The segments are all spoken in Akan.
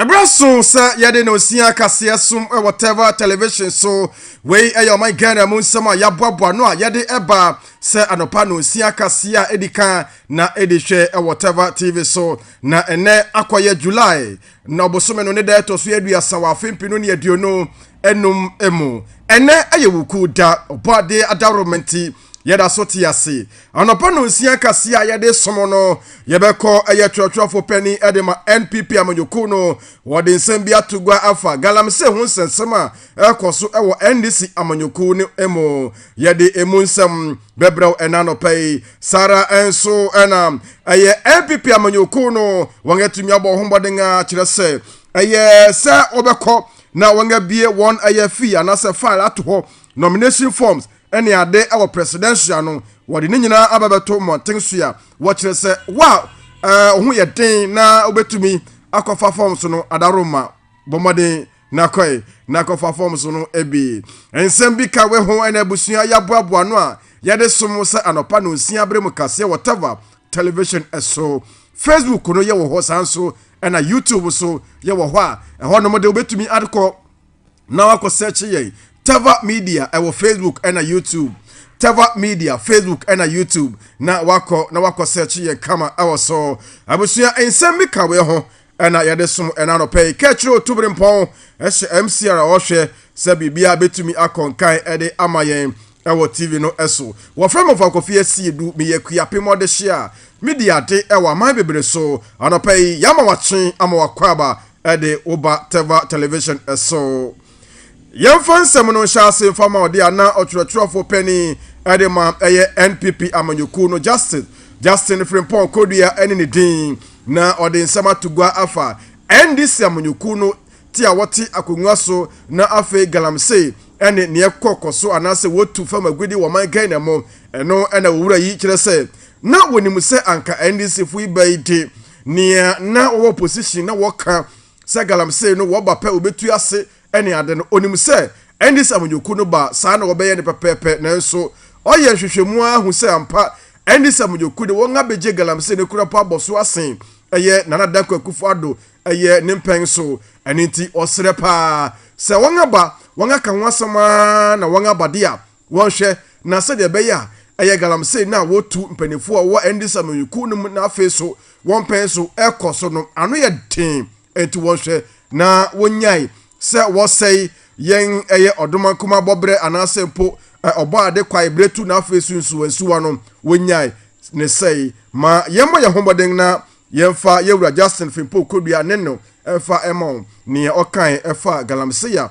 ɛberɛ so sɛ yɛde na osia kaseɛ som wɔ tɛva television so wei ɛyɛ ɔman ghana mu nsɛm a yɛaboaboa no a yɛde ɛba sɛ anɔpa na osia kaseɛ a ɛdi kan na ɛdi hwɛ wɔ tɛva tv so na ɛnɛ akɔyɛ july na ɔbosome no ne da ɛtɔ so aduasa wɔ afe mpenu ne aduonu enum mu ɛnɛ ɛyɛ wuku da ɔbɔ ade adaworo nti yɛda so te ase anɔpa no nsia kaseɛ a yɛde som no yɛbɛkɔ ɛyɛ twerɛtwerɛfo pani ɛde ma npp amanyɔkuo no wɔde nsɛm bi ato gua afa galamsey ho nsɛnsɛm a ɛkɔ so ɛwɔ ndc amanyɔkuo no mu yɛde emu nsɛm Bɛbrɛw ɛna anɔpa yi saa ara nso na ɛyɛ npp amanyɔkuo no wɔn atumi abɔ ho mmɔden a kyerɛ sɛ ɛyɛ sɛ wɔbɛkɔ na wɔn abie wɔn ɛyɛ fee anaasɛ file ato hɔ nomination forms ɛne ade ɛwɔ presidential no wɔde ne nyinaa aba bɛto mmɔnten so a wɔkyerɛ sɛ wa ɛɛ ho yɛ den na wɔbɛtumi akɔfa forms no adaroma bɔ mmɔden Na kɔe, na kɔfa fam so no bi. Nsɛm bi ka we ho ɛna abusua yɛaboaboa ano a yɛde som wo sɛ anɔpa nonsia bere mu kaseɛ wɔ tava, television, so. Facebook no yɛwɔ hɔ saa nso ɛna YouTube so yɛwɔ hɔ a ɛhɔ nom de wobɛtumi adekɔ na wakɔ sɛkye yɛn tava media ɛwɔ Facebook ɛna YouTube tava media Facebook ɛna YouTube na wakɔ na wakɔ sɛkye yɛn kama ɛwɔ so abusua nsɛm bi ka we ho Ɛna yɛde som ɛna anɔpɛ yi. Ka kyerɛ Otubirempɔn hyɛ MC a ɔhwɛ sɛ biribiara betumi akɔ nkan de ama yɛn wɔ TV no so. Wɔfrɛ me Ɔfam Kofi Asiedu. Meyɛ Akuapem ɔdehye a midi ade wɔ aman bebree so. Anɔpɛ yi, yɛama wo akye ama w'akwaaba de wo ba Teva Television so. Yɛmfa nsɛm no nhyɛ ase mfa ma ɔde a na ɔtwerɛtwerɛfoɔ panin de ma ɛyɛ NPP amanyɔkuo no Justice Justin Frimpong Kodua ne ne din na ɔde nsɛm ato gua afa NDC amanyɔkuo no ti a wɔte akonnwa so na afei galamsey ne neɛ ɛkɔ kɔ so anaasɛ wɔtu fam agudi wɔ man Ghana mu ɛno na owura yi kyerɛ sɛ na wɔnim sɛ anka NDC fo yi bɛyi de nea na wɔwɔ position na wɔka Sɛ galamsey no wɔba pɛ obetu ase ne ade no, onim sɛ ɛnde sɛ amanyɔkuo no ba a, saa na wɔbɛyɛ no pɛpɛɛpɛ. Nanso ɔyɛ nhwehwɛmu ara hu sɛ ampa, ɛnde sɛ amanyɔkuo de wɔn abegye galamsey no kura mpo abɔ so asen ɛyɛ Nana Dankwa Akufo-Addo ɛyɛ ne mpɛn so. Ɛno nti ɔsrɛ paa sɛ wɔn aba, wɔn aka ho asɛm ara na wɔn aba de a, Wɔhwɛ, na sɛdeɛ ɛbɛyɛ a ɛyɛ galamsey no a wɔtu mpanimfoɔ a wɔwɔ NDC amanyɔkuo no mu na afei so wɔn mpɛn so rekɔ so no ano yɛ den, enti wɔhwɛ na wɔnyae sɛ wɔsɛe yɛn ɛyɛ Ɔdomankoma abɔberɛ anaasɛ mpo Ɔbɔade Kwaeberetu na afei so Nsuwansuwa no, wɔnyae ne sɛe. Ma yɛmmɔ yɛn ho mmɔden na yɛmfa yɛn Wura Justin Frimpong Kodua Neno mfa mma wɔn, nea ɔkae faa galamsey a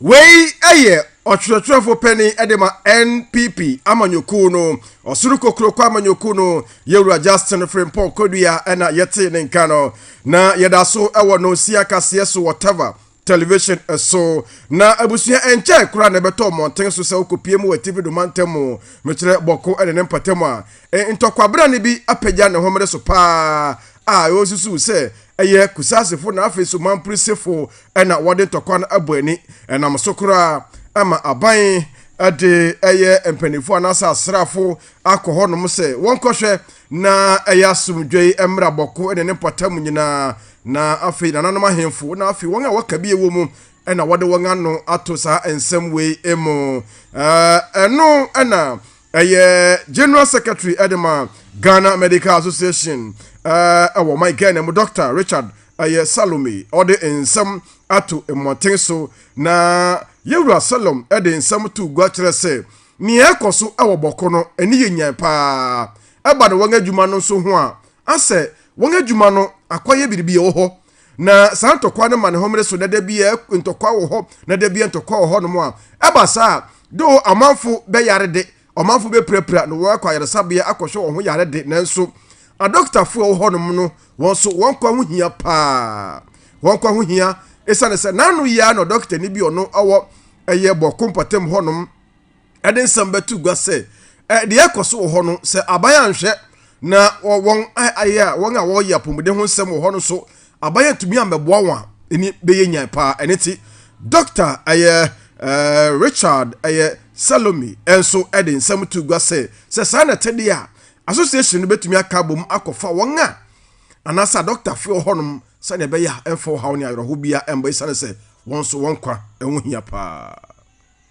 Wei yɛ ɔtwerɛtwerɛfoɔ panin de ma NPP amanyɔkuo no, ɔsoro kokuroko amanyɔkuo no, yɛwura Justin Frimpong Kodua na yɛtee ne nka no. Na yɛda so wɔ Nonsia kaseɛ so wɔ Tava television so. Na abusua ɛnkyɛe koraa na ɛbɛtɔ mmɔnten so sɛ wokɔpie mu wɔ Atifi do mantam mu. Mekyerɛ Bɔko ne ne mpɔtam a ntɔkwabrane bi apagya ne homene so paa a wosusuw sɛ ɛyɛ Kusasefo na afei nso Mamporisefo na wɔde ntɔkwa no abɔ ani. Ɛnam so koraa ama aban de ɛyɛ mpanyimfo anaasɛ asraafo akɔ hɔnom sɛ wɔnkɔhwɛ na ɛyɛ asomdwoe mmara bɔko ne ne mpɔtam nyinaa. Na afei nananom ahemfo na afei wɔn a wɔka bi wɔ mu na wɔde wɔn ano ato saa nsɛm wei mu. Ɛno na Ɛyɛ General Secretary de ma Ghana Medical Association wɔ ɔman Ghana mu, Dɔkta Richard Ayɛ Salome ɔde nsɛm ato mmɔnten so, na Yɛwura Salom de nsɛm too gua kyerɛ sɛ nea ɛkɔ so wɔ Bɔko no ani yɛ nyan paa, ɛba no wɔn adwuma no nso ho a, asɛ wɔn adwuma no akɔyɛ biribi wɔ hɔ Na saa ntɔkwa no ma ne homene so na da biara ntɔkwa wɔ hɔ na da biara ntɔkwa wɔ hɔnom a ɛba saa a do ɔmanfo bɛyare de ɔmanfo bɛpirapira na wɔakɔ ayaresabea akɔhwɛ wɔn ho yare de nanso adɔktafo a ɛwɔ hɔnom no wɔn nso wɔn nkwa ho hia paa wɔn nkwa ho hia esiane sɛ n'ano yɛ a na ɔdɔktani bi ɔno ɔwɔ ɛyɛ bɔko mpɔtam hɔnom de nsɛm bɛto gua sɛ deɛ ɛkɔ so wɔ hɔ no sɛ aban anhwɛ na wɔn ayɛ a wɔn a wɔyɛ apɔmuden ho nsɛm wɔ hɔ no so aban atumi ambɛboa wɔn a ɛni bɛyɛ nyan paa ɛne ti dɔkta ɛyɛ ɛɛ richard ɛyɛ salome nso ɛde nsɛm to gua sɛ sɛ saa na ɛte deɛ a association no bɛtumi aka abom akɔfa wɔn a anaasɛ adɔktafo wɔ hɔnom sɛdeɛ ɛbɛyɛ a ɛmfa ɔhaw ne ayerɛho bia ɛmba ɛsiane sɛ wɔn nso wɔn kwa ɛho hia paa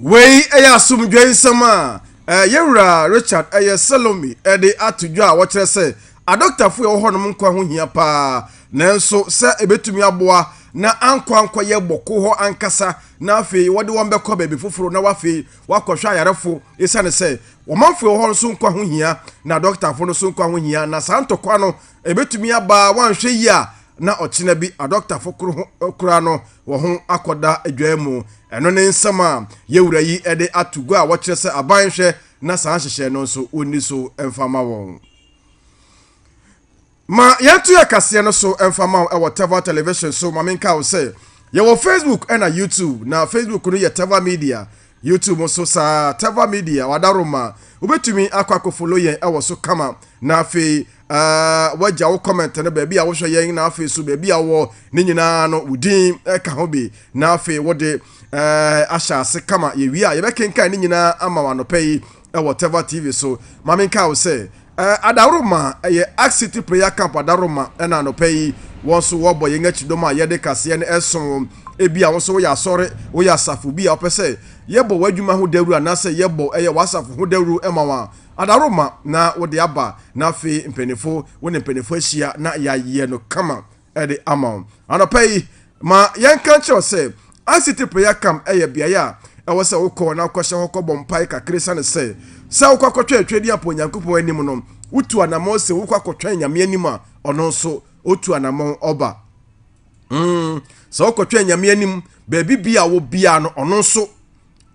Wei yɛ asomdwoe nsɛm a eh, yɛn wura Richard eh, yɛ Salome eh, de ato dwa a wɔkyerɛ sɛ adɔktafo a ɛwɔ hɔnom nkwa ho hia paa, nanso sɛ ebetumi aboa na ankɔ ankɔyɛ bɔko hɔ ankasa na afei wɔde wɔn bɛkɔ baabi foforo na wafei wakɔhwɛ ayarefo esiane sɛ ɔmanfo ɛwɔ hɔ nso nkwa ho hia na adɔktafo no nso nkwa ho hia na saa ntɔkwa no ebetumi aba a wɔanhwɛ yie a na ɔkyena bi adɔktafo koro ho eh, kora no wɔn ho akɔda adwae mu. Ɛno ne nsɛm a yɛn wura yi de ato gua a wɔkyerɛ sɛ aban nhwɛ na saa nhyehyɛe no nso wɔnni so mfa mma wɔn. Ma yɛnto yɛn kaseɛ no so mfa mma wo wɔ Teva Television so. Ma menka wo sɛ yɛwɔ Facebook na YouTube, na Facebook no yɛ Teva Media, YouTube nso saa, Teva Media, wada rom a, wobɛtumi akɔ akɔ follow yɛn ɛwɔ so kama, na afei uh, wagya wo comment no baabi a wohwɛ yɛn, na afei so baabi a wɔ ne nyinaa no wo din ɛka ho bi, na afei wode uh, ahyɛ ase kama, yɛwie a yɛbɛkenkan ne nyinaa ama wo anɔpɛ yi, wɔ Teva TV so. Ma menkae wo sɛ, eh, Adaworoma, ɛyɛ Ark City Prayer Camp Adaworoma, ɛna anɔpa yi, wɔn nso wɔbɔ yɛn akyi dɔm a yɛde kaseɛ no ɛso. Ebia wo nso woyɛ asɔre, woyɛ asafo bi a wopɛ sɛ yɛbɔ w'adwuma ho dawuro anaasɛ yɛbɔ ɛyɛ w'asafo ho dawuro ma wo a, Adaworoma na wode aba, na afei mpanyinfo, wo ne mpanyinfo ahyia na yɛayɛ no kama. de ama wo. Anɔpa yi, ma yɛnka nkyerɛ wo sɛ, ICT Prayer Camp yɛ beaeɛ a ɛwɔ sɛ wokɔ na wokɔhyɛ hɔ kɔbɔ mpae kakra esiane sɛ, sɛ wokɔ akɔtwɛn Tweaduampɔ Onyankopɔn anim no, wotu anammɔn sɛ wokɔ akɔtwɛn Nyame anim a, ɔno nso ɔtu anammɔn ɔba. Mm, sɛ wokɔtwɛn Nyame anim, baabi bia wɔ biara no, ɔno nso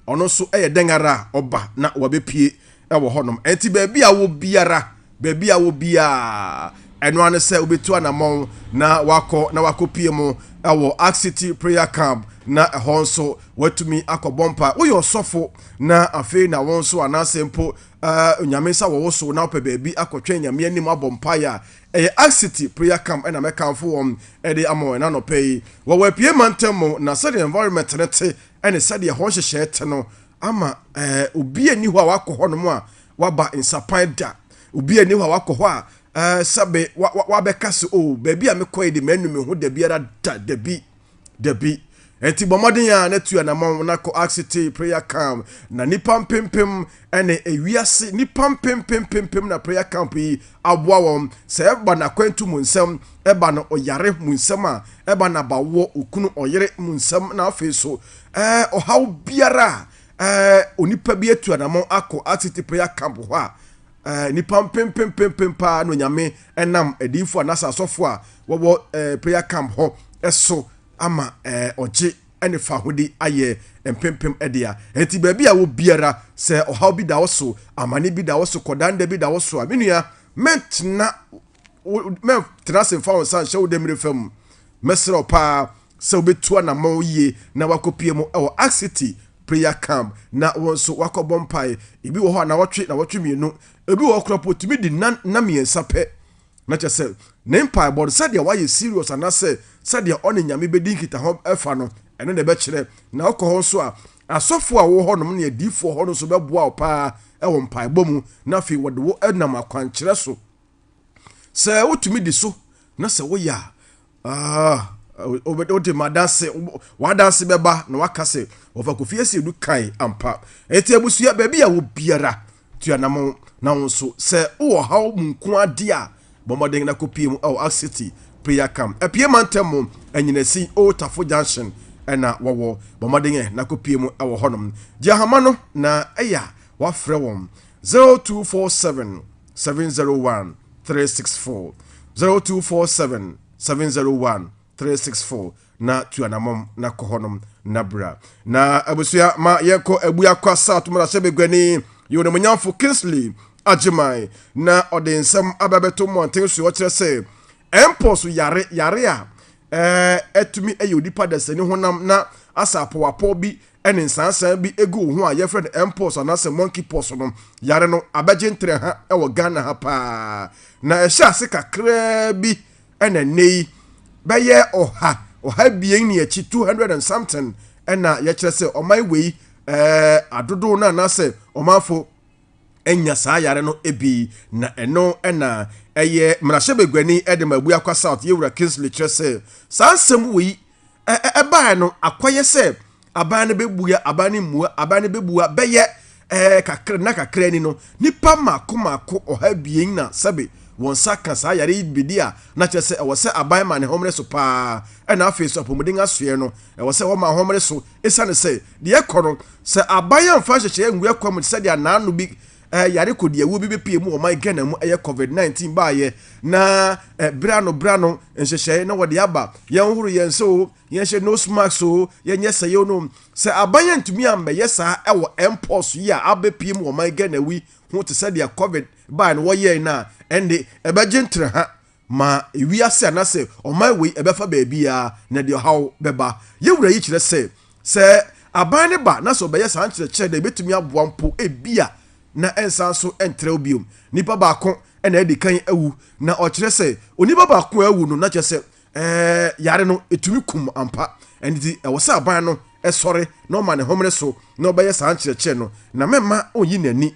Ɔno nso yɛ dɛn ara a, ɔba na wabɛpue wɔ hɔnom. Ɛnti baabi a wɔ biara, baabi a wɔ biara, ɛno ara ne sɛ wobɛtu anammɔn na wakɔ na wakɔpie mu wɔ Ark City Prayer Camp na ɛhɔ nso watumi akɔbɔ mpa. Woyɛ ɔsɔfo na afei na wo nso anaasɛ mpo uh, nyame nsa wɔ wo so na wopɛ baabi akɔtwɛn nyame anim abɔ mpaeɛ a ɛyɛ Ark City Prayer Camp ɛna mɛkamfo wɔn ɛde ama wɔn anɔpɛ yi wɔ wɔapue mantam mu na sɛdeɛ environment ne te ne sɛdeɛ hɔ nhyehyɛɛ te no ama ɛɛ obi a nni hɔ a wakɔ hɔnom a waba nsapan da. Obi a nni hɔ a wakɔ hɔ a ɛɛ sɛbe wa wa wabɛka sɛ o oh, baabi a mekɔ yi de manu me ho da biara da dabi dabi. Ɛnti bɔ mmɔden a na tu anamɔn na kɔ Axe Tea Prayer Camp na nipa mpempem ɛne ewiase nnipa mpempempempem na prayer camp yi aboa wɔn sɛ ɛba no akwantu mu nsɛm ɛba no ɔyare mu nsɛm a ɛba no abawoɔ okunu ɔyere mu nsɛm na afei so ɛɛ ɔhaw biara a ɛɛ onipa bi atu anamɔ akɔ asiti prayer camp hɔ a ɛɛ nnipa mpempempempem paa na onyame ɛnam adiifo anaasɛ asɔfo a wɔwɔ ɛɛ prayer camp hɔ ɛso ama ɛɛ ɔgye ne fahode ayɛ mpempem dea. Enti baabi a wɔ biara, sɛ ɔhaw bi da wo so, amane bi da wo so, kɔdan da bi da wo so a, me nua, mɛntena wo, mɛntena ase mfa wo nsa nhyɛ wo demmire fa mu. Mɛsrɛ wo paa sɛ wobɛtu anammɔn yie na woakɔpue mu wɔ Ark City Prayer Camp na wo nso woakɔbɔ mpae. Ebi wɔ hɔ a, nnawɔtwe, nnawɔtwe mmienu. Ebi wɔ hɔ koraa mpo, ɛtumi di nna, nna mmiɛnsa pɛ Na kyerɛ sɛ, ne mpaebɔ no, sɛdeɛ wayɛ serious anaasɛ sɛdeɛ ɔne Nyame bɛdi nkitaho fa no, ɛno na ɛbɛkyerɛ. Na wokɔ hɔ nso a, asɔfoɔ a wɔwɔ hɔnom ne adiyifoɔ hɔ no nso bɛboa wo paa wɔ mpaebɔ mu, na afei wɔde wo nam akwankyerɛ so. Sɛ wotumi di so, na sɛ woyɛ a, Ah, wode wo de madanse, wadanse bɛba na waka sɛ wɔfa Kofi Asiedu kae ampa. Enti abusua baabi a wɔ biara tua na mo na wo nso sɛ wowɔ haw mu nko ade a bɔmmɔden na kopie mu ɛwɔ Axe City prayer camp. Apie mantam mu anyinasi Old Tafo Junction ɛna wɔwɔ bɔmmɔden ɛ na kopie mu ɛwɔ hɔnom. Gye ahama no na ɛyɛ a wafrɛ wɔn 0247 seven zero one three six four zero two four seven seven zero one three six four na tu anamɔm na kɔ hɔnom na bra na abusua ma yɛnkɔ abu akɔ asa to mmarahyɛ baguani yɛ onimonyamfo Kingsley Agyeman na ɔde nsɛm aba bɛto mmɔnten so ɔkyerɛ sɛ mpox yare yare a ɛtumi eh, ɛyɛ onipa dasani honam na asapowapɔ bi ne nsaansaa bi gu wo ho a yɛfrɛ no mpox anaasɛ monkey pox no, yare no abɛgye ntrɛ ha wɔ Ghana ha paa. Na ɛhyɛɛ ase kakraa bi na nnɛ yi bɛyɛ ɔha, ɔha abien ne akyi, 200 and something na yɛkyerɛ sɛ ɔman wei eh, adodow no anaasɛ ɔmanfo anya saa yare no bi. Na ɛno na ɛyɛ mmarahyɛbaguani de ma Abuakwa South, Yewura Kingsley kyerɛ sɛ saa nsɛm wei ɛbaeɛ no akɔyɛ sɛ aban no bɛbua aban no mmua aban no bɛbua bɛyɛ ɛɛ kakra na kakra ni no nipa mako mako ɔha abien na sɛbe wɔn nsa ka saa yare yi bedi a na kyerɛ sɛ ɛwɔ sɛ aban ma ne homere so paa ɛna afei so apɔmuden asoɛ no ɛwɔ sɛ wɔma homere so esiane sɛ deɛ ɛkɔ no sɛ aban amfa nhyehyɛeɛ ngu ɛkɔ mu te sɛ deɛ anaano bi Yare kodiawuo bi bepue mu wɔ ɔman Ghana mu, ɛyɛ covid 19 baayɛ na bere ano bere ano nhyehyɛe na wɔde aba. Yɛnhoro yɛn nsa o, yɛnhyɛ nose mask o, yɛnyɛ sɛe o no. Sɛ aban antumi ammɛyɛ saa ɛwɔ mpox yi a abepue mu wɔ ɔman Ghana wi ho te sɛdeɛ covid bae no wɔyɛe no a, ɛnde ɛbɛgye ntraha Ma wiase anaasɛ ɔman wei ɛbɛfa baabiara na ɛde ɔhaw bɛba. Yɛn Wura yi kyerɛ sɛ, sɛ aban no ba na sɛ ɔbɛyɛ saa nkyerɛkyerɛ dɛ ebetumi aboa mpo ebia na ɛnsan nso ntrɛw bio. Nipa baako na adi kan awu, na ɔkyerɛ sɛ onipa baako a awu no na kyerɛ sɛ yare no tumi kum ampa. Ɛno nti ɛwɔ sɛ aban no sɔre na ɔma ne homene so na ɔbɛyɛ saa nkyerɛkyerɛ no, na mɛmma onnyi n'ani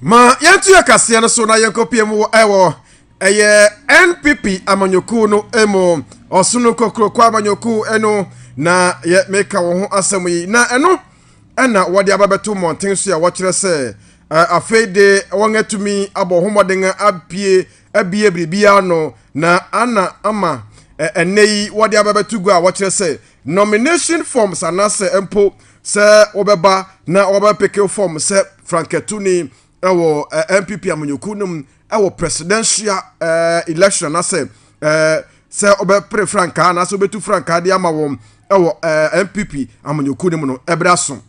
ma yɛnto yɛ kaseɛ no so na yɛnkɔpie mu wɔ ɛwɔ ɛyɛ npp amanyɔkuo no mu ɔsono kokuroko amanyɔkuo ɛno na yɛ meka wɔn ho asɛm yi na ɛno ɛna wɔde aba bɛto mmɔnten so a wɔkyerɛ sɛ afei de wɔn atumi abɔ ho mmɔden abie abie biribiara no na ana ama ɛnɛ yi wɔde aba bɛto gu a wɔkyerɛ sɛ nomination forms anaasɛ mpo sɛ wɔbɛba na wɔbɛpeke fam sɛ frankatuni wɔ npp amanyɔkuo no mu wɔ presidential election anaasɛ sɛ wɔbɛpere frankaa anaasɛ wɔbɛtu frankaa de ama wɔn wɔ npp amanyɔkuo no mu no ɛberɛ aso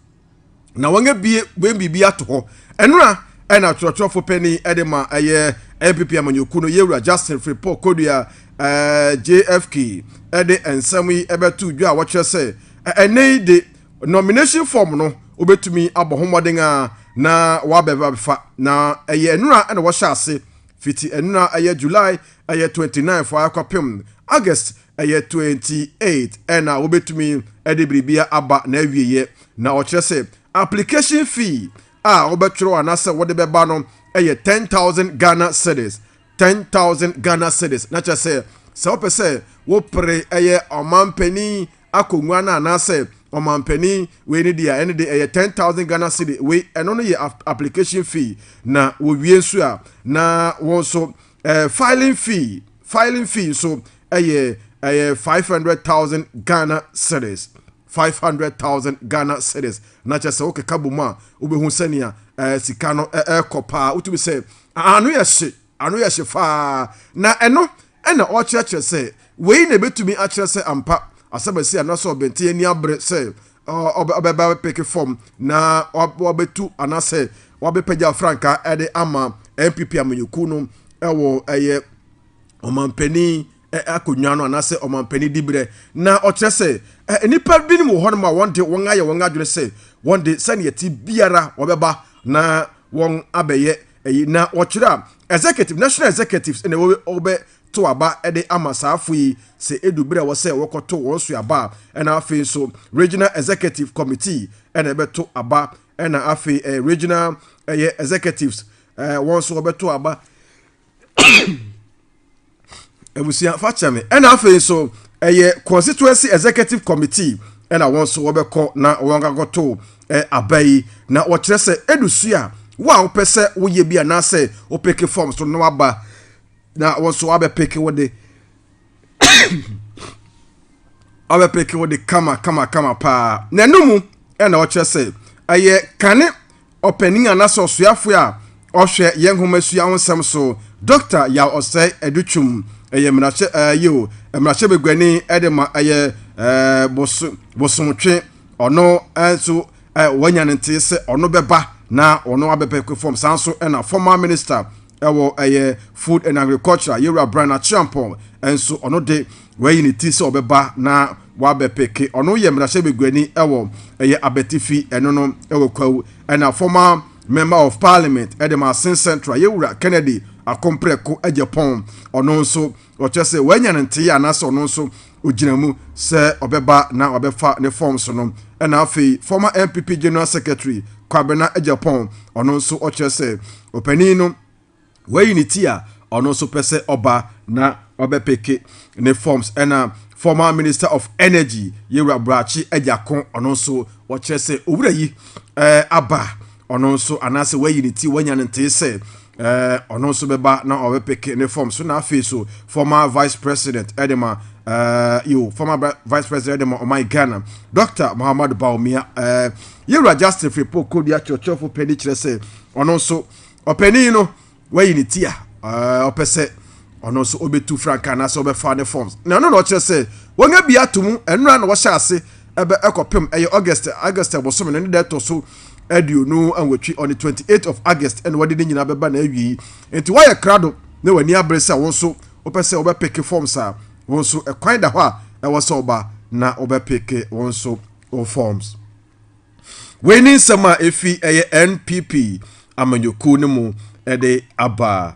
na wɔn abie wɔn biribi ato hɔ ɛnora ɛna twerɛtwerɛfo panyin ɛde ma ɛyɛ npp amanyɔkuo no yɛwura justin fripɔ kodua jfk ɛde nsɛm yi ɛbɛto dwa a wɔkyerɛ sɛ Ɛnnɛ yi de, nomination form no wobɛtumi abɔ ho mmɔden a na wabɛfa na ɛyɛ nnora na wɔhyɛ ase fiti nnora ɛyɛ July ɛyɛ 29 fo akɔpem August ɛyɛ 28 ɛna wobɛtumi ɛde biribia aba na awieɛ na ɔkyerɛ sɛ application fee a wobɛtwerɛ anasɛ wode bɛba no ɛyɛ 10,000 Ghana cedis 10,000 Ghana cedis na kyerɛ sɛ sɛ wopɛ sɛ wopere ɛyɛ ɔmampanin akongua no anaasɛ ɔmanpanin wei ne deɛ ɛne de ɛyɛ ten thousand Ghana cedi wei ɛno no yɛ application fee na wɔwie nso a na wɔn nso eh, filing fee filing fee nso ɛyɛ ɛyɛ five hundred thousand Ghana cedis five hundred thousand Ghana cedis na kyerɛ sɛ wokeka bɔ mu a wobɛhu sɛnea eh, sika no ɛkɔ eh, eh, paa wotumi sɛ ano yɛ hye Ano yɛ hye faa, na ɛno na ɔrekyerɛkyerɛ sɛ wei na ebetumi akyerɛ sɛ ampa asɛmasi anaasɛ ɔbɛnten ani abere sɛ ɔbɛba abɛpeke fam na wabetu anaasɛ wabɛpagya frankaa de ama NPP amanyɔkuo no wɔ ɛyɛ ɔmanpanin akonnwa no anaasɛ ɔmanpanin diberɛ na ɔkyerɛ sɛ nnipa binom wɔ hɔnom a wɔn de wɔn ayɛ wɔn adwene sɛ wɔn de sɛnea ti biara wɔbɛba na wɔn abɛyɛ Eyi na wɔkyerɛ a, executive, national executives na wɔbɛ to aba de ama saa fo yi sɛ edu bere a ɛwɔ sɛ wɔkɔto wɔn so aba a, ɛna afei nso regional executive committee na ɛbɛto aba, ɛna afei ɛyɛ regional ɛyɛ executives ɛɛ wɔn nso wɔbɛto aba. abusua fa kyɛ me ɛna afei nso ɛyɛ constituency executive committee ɛna wɔn nso wɔbɛkɔ na wɔn akɔto eh, aba yi na wɔkyerɛ sɛ edu so a wo a wopɛ sɛ woyɛ bi anaasɛ wopeke fam so no aba na wɔn nso abɛpeke wo de abɛpeke wo de kama kama kama paa na ɛno mu ɛna wɔkyerɛ sɛ ɛyɛ kane Ɔpanyin anaasɛ ɔsoafo a ɔhwɛ yɛn nhomasua ho nsɛm so, Dɔkta Yaw Ɔsɛe Adutwum, ɛyɛ mmarahyɛ ɛɛ yiw, mmarahyɛ baguani de ma ɛyɛ ɛɛ bos bosomtwe. Ɔno nso ɛɛ wanya ne nteɛ sɛ ɔno bɛba na ɔno abɛpɛ fam. Saa nso na former minister ɛwɔ ɛyɛ food and agriculture, Yewura Brian Acheampong nso ɔno de Wayi ne ti sɛ ɔbɛba na wabɛpeke. Ɔno yɛ mmarahyɛ baguani wɔ ɛyɛ abatifi ɛno no wɔ kwawu ɛna former member of parliament ɛde Masin Central yɛ wura Kennedy Akompreko Agyapong ɔno nso ɔkyerɛ sɛ wanya ne ntee anaasɛ ɔno nso ogyina mu sɛ ɔbɛba na wabɛfa ne forms no ɛna afei former NPP general secretary Kwabena Agyapong ɔno nso ɔkyerɛ sɛ ɔpanin no Wayi ne ti a ɔno nso pɛ sɛ ɔba na ɔbɛpeke ne forms ɛna former minister of energy yɛwura brakye agyako ɔno nso wɔkyerɛ sɛ owura yi ɛɛ eh, aba ɔno nso anaasɛ wayi ne ti wanya ne ntee sɛ ɛɛ eh, ɔno nso bɛba na ɔbɛpeke ne forms so na afei so former vice president ɛde ma ɛɛ eh, yo former vice president ɛde ma ɔman ghana dr muhammadu bawumia ɛɛ yɛwura justin fripo kodua kyerɛkyerɛfo pɛ ne kyerɛ sɛ ɔno nso. Ɔpanin no, wayi ne ti a ɔpɛ sɛ ɔno nso ɔbɛtu frankaa anaasɛ ɔbɛfa ne forms. Na ɛno na ɔkyerɛ sɛ wɔn abi ato mu ɛnora na wɔhyɛ ase ɛbɛ ɛkɔpem ɛyɛ August August ɛbosome no ne da ɛtɔ so aduonu anwɔtwe on the 28 of August ɛna wɔde ne nyinaa bɛba na awie yi. Nti wɔayɛ krado na wɔn ani abere sɛ wɔn nso wɔpɛ sɛ wɔbɛpeke forms a wɔn nso ɛkwan da hɔ a ɛwɔ sɛ ɔba na wɔbɛpeke wɔn nso wɔn forms. Wei ne nsɛm a efi ɛyɛ NPP amanyɔkuo no mu ɛde aba.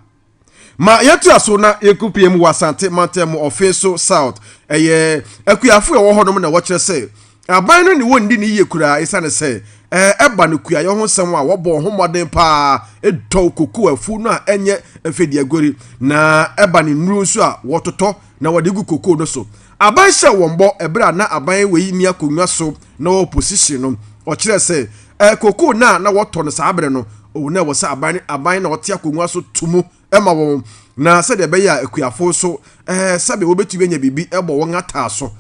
Ma yɛto aso na yɛnko pie mu wɔ Asante mantam mu ɔfe so South. Ɛyɛ akuafo a ɛwɔ hɔnom na wɔkyerɛ sɛ aban no ne wɔn nni ne yie koraa esiane sɛ ɛba no kuayɔ ho nsɛm a wɔbɔ ho mmɔden paa dɔw koko afu no a ɛnyɛ mfedeaguari na ɛba ne nnuru nso a wɔtotɔ na wɔde gu koko no so. Aban hyɛɛ wɔn bɔ ɛberɛ a na aban wei nni akonnwa so na ɔwɔ opposition no, ɔkyerɛɛ sɛ ɛɛ cocoa no a na wɔtɔ no saa berɛ no, oh, na ɛwɔ sɛ aban no aban na ɔte akonnwa so to mu ma wɔn, na sɛdeɛ ɛbɛyɛ a akuafoɔ nso ɛɛ sɛbe wɔbɛtumi anya biribi bɔ wɔn ataa so.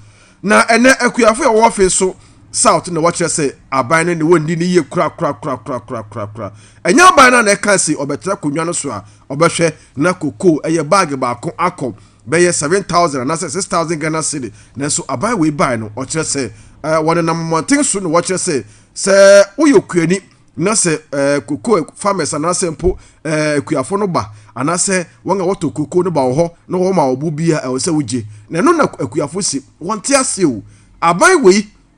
Na ɛnnɛ akuafoɔ a wɔwɔ afei so South na wɔkyerɛ sɛ aban no ne wɔn nni no yie korakorakorakorakorakorakora. Ɛnyɛ aban no a na ɛkaa se ɔbɛtra akonnwa no so a ɔbɛhwɛ na cocoa ɛyɛ bag baako akɔ bɛyɛ seven thousand anaasɛ six thousand Ghana cedi, nanso aban wei bae no, ɔkyerɛ sɛ eh, wɔnenam mmɔnten so na wɔkyerɛ sɛ sɛ woyɛ okuani na sɛ eh, koko farmers anaasɛ mpo eh, akuafo no ba anaasɛ wɔn a wɔtɔ koko no ba wɔ hɔ na wɔma ɔbo bi a ɛwɔ sɛ wogye na ɛno na akuafo si wɔnte ase o aban wei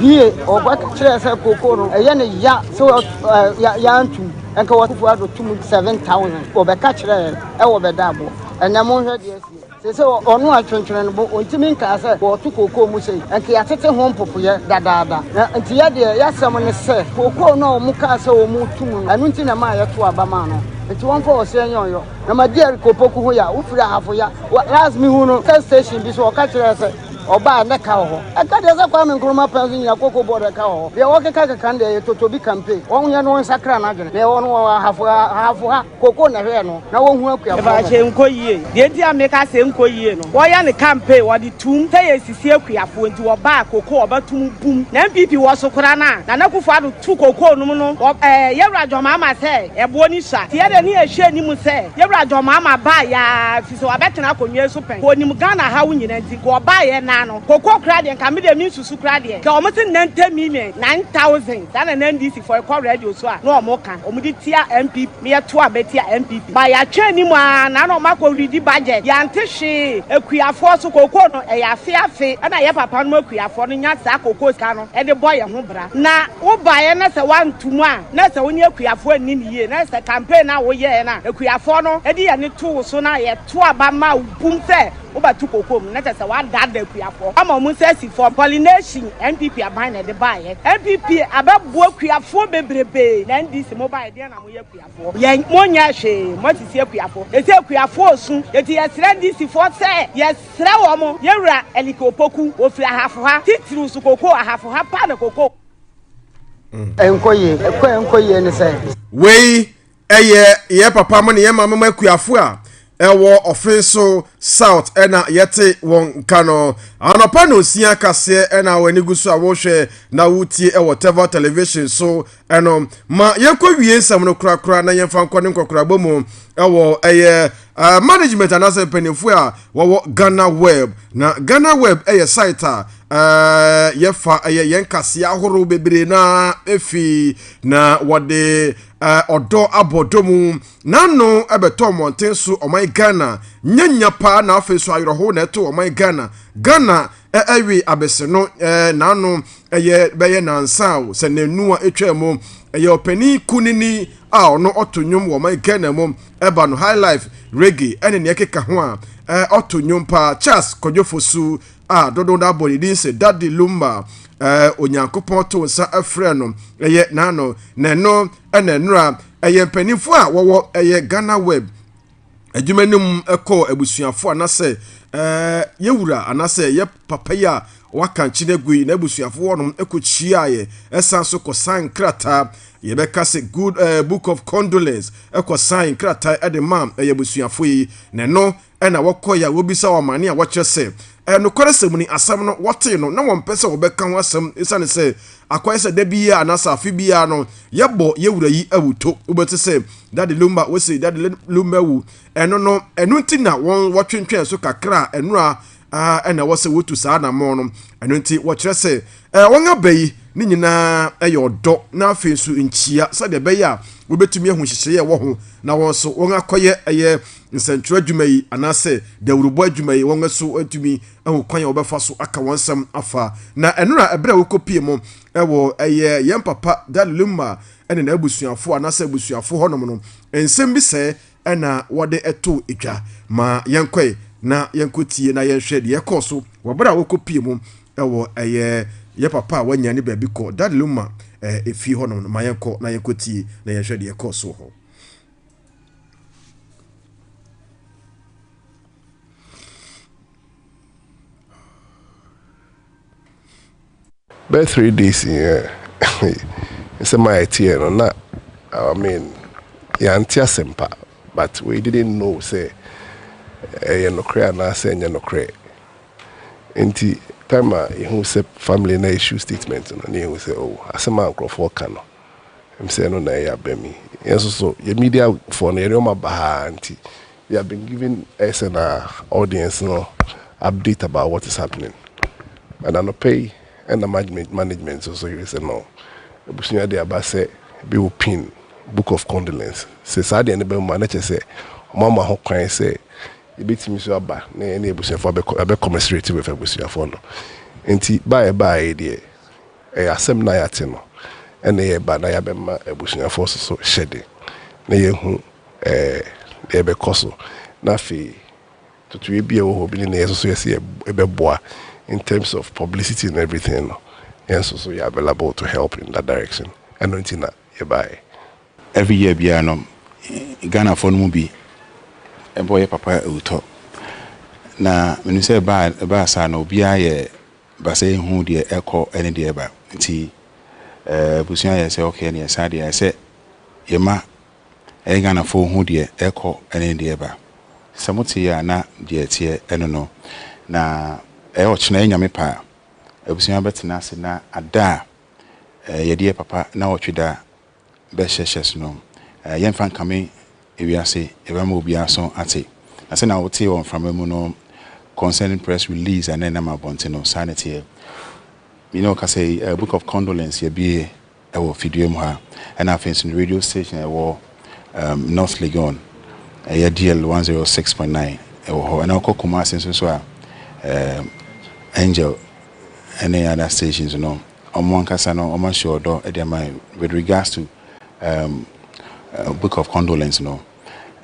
Bie, ɔba kyerɛɛ sɛ kookoo no ɛyɛ ne ya sɛ yɛantum nka wɔ Akufo Addo tum 7,000 wɔbɛka kyerɛɛ ɛwɔ bɛda aboɔ ɛnɛ monhwɛ deɛ asie sese ɔno a twentwene no bo ɔntumi nkaa sɛ wɔɔto kookoo mu sei nka yɛatete ho mpopoyɛ dadaada na nti yɛ deɛ yɛasɛm ne sɛ kookoo no a wɔn kaa sɛ wɔn tum no ɛno nti na ɛmaa yɛto aba maa no nti wɔmfa ɔsɛ nyɛ ɔyɔ na ma diɛ kopoku ho ya wofiri ahafo ya last mehu no sɛ station bi so ɔka kyerɛɛ sɛ Ɔbaa a na ɛka wɔ hɔ. Ɛka deɛ sɛ Kwame Nkrumah pɛn so nyina koko board ɛka wɔ hɔ. Deɛ wɔkeka keka no deɛ ɛyɛ totobi campaign. Wɔn yɛ no wɔn nsakra no adwene. Deɛ ɛwɔ no wɔn ahafo ahafo ha koko na ɛhwɛ no na wɔhu akuafoɔ mmɔbɔ. Ɛfa hyɛ nkɔ yie. Deɛ nti a meka sɛ nkɔ yie no wɔyɛ no campaign wɔde tum sɛ yɛsisi akuafoɔ nti wɔbaa koko ɔba tum bum na NPP wɔ so koraa no a Nana Akufo Addo tu koko nom no wɔ ɛɛ Yawura John Mahama sɛ ɛboɔ no sua nti yɛdeɛ ne yɛhwɛ anim sɛ Yawura John Mahama baa yɛa So wabɛtena akonwa yi so pɛn? Kɔ nim Ghana ahaw nyina nti nka ɔbaa yɛ naa no koko koraa deɛ nka medeɛ mensusu koraa deɛ nka ɔmo se nante million nine thousand saa na na NDC fɔ ɛkɔ radio so a na ɔmo ka ɔmo de tia NPP me yɛ to a bɛtia NPP ba yatwɛn anim aa na na ɔmo akɔ redi budget yante hwee akuafoɔ so koko no ɛyɛ afe afe ɛna yɛ papa nom akuafoɔ no nya saa koko sika no ɛde bɔ yɛ ho bra na wo baeɛ na sɛ wanto mu a. na ɛsɛ wo ne akuafoɔ anni no yie, na ɛsɛ sɛ campaign no a woyɛɛ no a akuafoɔ no de yɛn ani to wo so no a yɛto aba ma wo bum sɛ wobɛto koko mu, na kyerɛ sɛ woadaadaa akuafoɔ ama wɔn nsa asi fam. Pollination, NPP aban na ɛde baeɛ. NPP abɛboa akuafoɔ bebrebe, na NDC mobaeɛ deɛn na moyɛ akuafoɔ? Yɛn, monyɛɛ hwee, moasisi akuafoɔ. Seesei akuafoɔ resu, enti yɛsrɛ NDC foɔ sɛ, yɛsrɛ wɔn, yɛn wura Elike Opoku, ɔfiri Ahafo ha, titiriw nso koko, Ahafo ha paa na koko. ɛnkɔ yie ɛkɔ ɛnkɔ yie ne sɛ. wei ɛyɛ yɛ papa mo ne yɛ maame mo akuafo a ɛwɔ ɔfen so south ɛna yɛte wɔn nka no anɔpa na osia kaseɛ ɛna wɔn ani gu so a wɔhwɛ na wotie ɛwɔ tɛva television so ɛno ma yɛkɔ wie nsɛm no korakora na yɛmfa nkɔ ne nkɔkorabɔ mu ɛwɔ ɛyɛ Uh, management anaasɛ mpanyinfoɔ a wɔwɔ ghana web na ghana web yɛ site a uh, yɛfa ɛyɛ yɛn kaseɛ ahorow bebree na efi na wɔde uh, ɔdɔ abɔ dɔ mu n'ano ɛbɛtɔ mmɔnten so ɔman ghana nyanya paa na afei so ayerɛho na ɛto ɔman ghana ghana ɛwe abɛsɛ no n'ano ɛyɛ bɛyɛ nansa o sɛ n'anu a atwa mu ɛyɛ ɔpanin kunini a ɔno ɔto nnwom wɔ ɔman Ghana mu ɛba no high life reggae ɛne nea ɛkeka ho a ɛɛ ɔto nnwom paa Charles Kwadwo Fosu a dodow no abɔ ne din sɛ Daddy Lumba ɛɛ Onyankopɔn to nsa ɛfrɛ no ɛyɛ n'ano na ɛno ɛna ɛnora ɛyɛ mpanimfoɔ a wɔwɔ ɛyɛ Ghana Web adwuma no mu kɔɔ abusuafo anaasɛ ɛɛ yɛ wura anaasɛ yɛ papa yi a waka nkyene gu yi n'abusuafo wɔnom kɔkyia yɛ ɛsan so kɔsan nkrataa yɛbɛka sɛ good uh, book of condolence kɔsan nkrataa de ma ɛyɛ abusuafo yi na ɛno ɛna wɔkɔ yɛ a wɔbisa wɔn amane a wɔkyerɛ sɛ Nokwaresɛm ni, asɛm no, wɔtee no, na wɔmpɛ sɛ wɔbɛka ho asɛm esiane sɛ akɔyɛ sɛ da biara anaasɛ afe biara no, yɛbɔ yɛn wura yi awuto. Wobɛte sɛ, Dade Lumba, wose, Dade Lumba awu. Ɛno no, ɛno nti na wɔn, wɔtwentwɛn so kakra a, ɛno ara a, na ɛwɔ sɛ wotu saa anammɔn no. Ɛno nti, wɔkyerɛ sɛ, eh, wɔn aba yi, ne nyinaa yɛ ɔdɔ, na afei nso nkyia, sɛdeɛ ɛbɛyɛ a, wobɛtumi ahu nhyehyɛeɛ a ɛwɔ ho, na wɔn nso, wɔakɔyɛ ɛyɛ Nsɛnkyerɛw adwuma yi anaasɛ dawurubɔ adwuma yi, wɔn nso atumi ahu kwan a wɔbɛfa so aka wɔn nsɛm afa. Na nnora bere a wokopie mo wɔ ɛyɛ yɛn papa Daley Lima ne n'abusuafo anaasɛ abusuafo hɔnom no, nsɛm bi sɛɛ na wɔde too dwa. Ma yɛnkɔe na yɛnkotie na yɛnhwɛ nea ɛkɔɔ so wɔ bere a wokopie mo wɔ ɛyɛ yɛn papa a wɔannya ne baabi kɔ, Daley Lima fie hɔnom no. Ma yɛnkɔ na yɛnkotie na yɛnhwɛ nea ɛkɔɔ so wɔ hɔ. Bɛyɛ three days yi ɛ nsɛm a ɛteɛ no na I mean yɛante asɛmpa but we didn't know sɛ ɛyɛ nokorɛ anaasɛ ɛnyɛ nokorɛ nti time a yɛhu sɛ family no issue statement no na yɛhu sɛ oh asɛm a nkurɔfoɔ ka no Em sɛ ɛno na ɛyɛ aba mi. Yɛn nso so yɛ media foɔ no yɛn nneɛma ba ha ara nti we have been giving ɛyɛ sɛ na audience no update about what is happening. And anɔpa yi ɛna management management nso so yere sɛ no abusua de aba sɛ ebi wɔ pin book of condolence. Sɛ saa deɛ no bɛ mu a na kyerɛ sɛ wɔn ama ho kwan sɛ yɛbɛtumi nso aba na yɛne abusuafoɔ abɛ abɛ commiserate with abusuafoɔ no. Nti ba a ɛbaeɛ deɛ. Ɛyɛ asɛm no a yɛate no na yɛreba na yɛabɛma abusuafoɔ nso so hyɛ den na yɛahu deɛ ɛbɛkɔ so. Na afei totoeɛ bi a ɛwɔ hɔ bi ne deɛ yɛn nso so yɛ sɛ yɛbɛboa in terms of publicity and everything no, yɛn nso so yɛ available to help in that direction. Ɛno nti na yɛbaeɛ. Every year biara no, Ghanafoɔ no mu bi bɔ yɛ papa awutɔ. Na menim sɛ ɛbaa saa no, obiara yɛ ba sɛ yɛhu deɛ ɛkɔ ne deɛ ɛba nti abusua yɛ sɛ ok neɛ saa deɛ ɛsɛ yɛma yɛ Ghanafoɔ hu deɛ ɛkɔ ne deɛ ɛba sɛ mote yɛ a na deɛ ɛteɛ ɛno no na ɛyɛ ɔkyena yɛ Nyame paa abusua bɛtena ase na ada a yɛdeɛ papa na ɔtwe da bɛhyɛ hyɛ so no, yɛmfa nkame ewiase, yɛbɛma obiara aso ate. Na sɛnea wotee wɔ mframa mu no, concerning press release a na ɛnam abɔnten no, saa na ɛteɛ. Me ne wo kasa yi, Book of Condolence yɛabue wɔ fidua mu ha, ɛna afei nso no radio station a ɛwɔ um, North Legon, ɛyɛ DL 106.9 ɛwɔ hɔ, ɛna wokɔ Kumasi nso so a um, Angel ɛne other stations no wɔn ankasa no wɔahyɛ ɔdɔ de ama yɛn with regards to um, uh, book of condolence no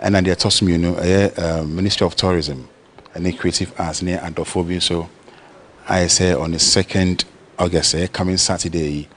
ɛna deɛ ɛtɔ so mmienu ɛyɛ uh, ministry of tourism ɛne creative arts ne adɔfoɔ bi nso ayɛ sɛ on the second august ɛyɛ coming saturday yi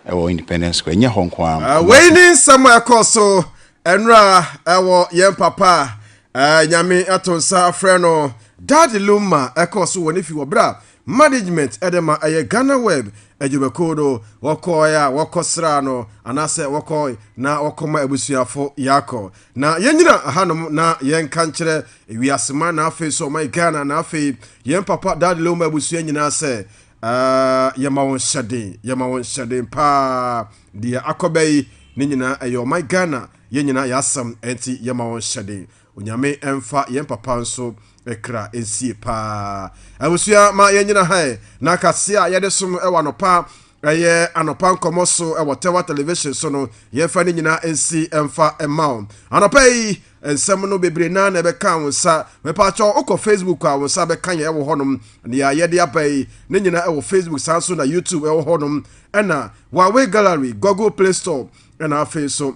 ɛwɔ independence square ɛnyɛ hɔ nko ara uh, wei ne nsɛm a ɛkɔ so ɛnora ɛwɔ yɛn papa uh, nyame ato nsa afrɛ no dade luma ɛkɔ so wɔ ne fi wɔ berɛ a Management de ma ɛyɛ Ghana Web adwumakuw no, wɔkɔe a wɔkɔsraa no anaasɛ wɔkɔe na wɔkɔma abusuafo Yako. Na yennyina hanom na yɛnka nkyerɛ wiase man na afei nso ɔman Ghana na afei yɛn papa Dad Lewoma abusua nyinaa sɛ, Ah, yɛma wɔn hyɛden, yɛma wɔn hyɛden paa. Deɛ akɔba yi, ne nyinaa ɛyɛ ɔman Ghana, yɛn nyinaa yɛasɛm, ɛnti yɛma wɔn hyɛden. Onyame nfa yɛn papa nso kra nsie paa abusua ma yɛn nyina ha na kase a yɛde som wɔ anɔpa ɛyɛ anɔpa nkɔmɔ so wɔ Tewa television so no yɛmfa ne nyina nsi mfa ma wo anɔpa yi nsɛm no bebree na na ɛbɛka wo nsa mepaakyɛ wokɔ Facebook a wo nsa bɛka yɛn wɔ hɔnom nea yɛde aba yi ne nyina wɔ Facebook saa nso na YouTube wɔ hɔnom ɛna Huawei Gallery Google Play Store Ɛna afei nso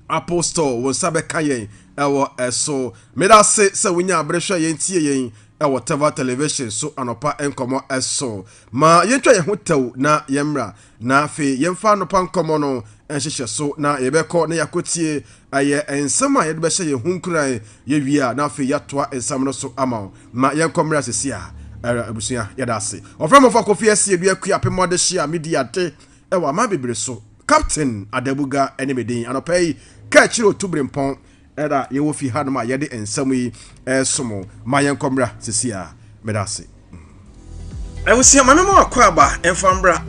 Apostle wo nsa bɛka yɛn ɛwɔ ɛso. Meda ase sɛ wonya abere hwɛ yɛn tie yɛn ɛwɔ Tava Television so anɔpa nkɔmɔ ɛso. Ma yɛntwa yɛn ho tɛw na yɛmmra na afei yɛmfa anɔpa nkɔmɔ no nhyehyɛ so na yɛbɛkɔ na yɛakɔtie ɛyɛ nsɛm a yɛde bɛhyɛ yɛn ho nkuran yɛwie a na afei yɛatoa nsɛm no so ama wo. Ma yɛnkɔ mmra sisi a ɛrɛ abusua yɛda ase. Wɔfrɛ Mɔfɔ Kofi Asie Duakua Apemɔ Adehyia Midi Ade ɛwɔ aman bebree so. Captain Adabuga ne me din. Anɔpa yi, Kɛkyere Otubrempɔn na yɛwɔ fi hanom a yɛde nsɛm yi resom. Ma yɛnkɔ mmra sesia. Meda ase. Abusua, ma me mɔ akwaaba mfa mmra.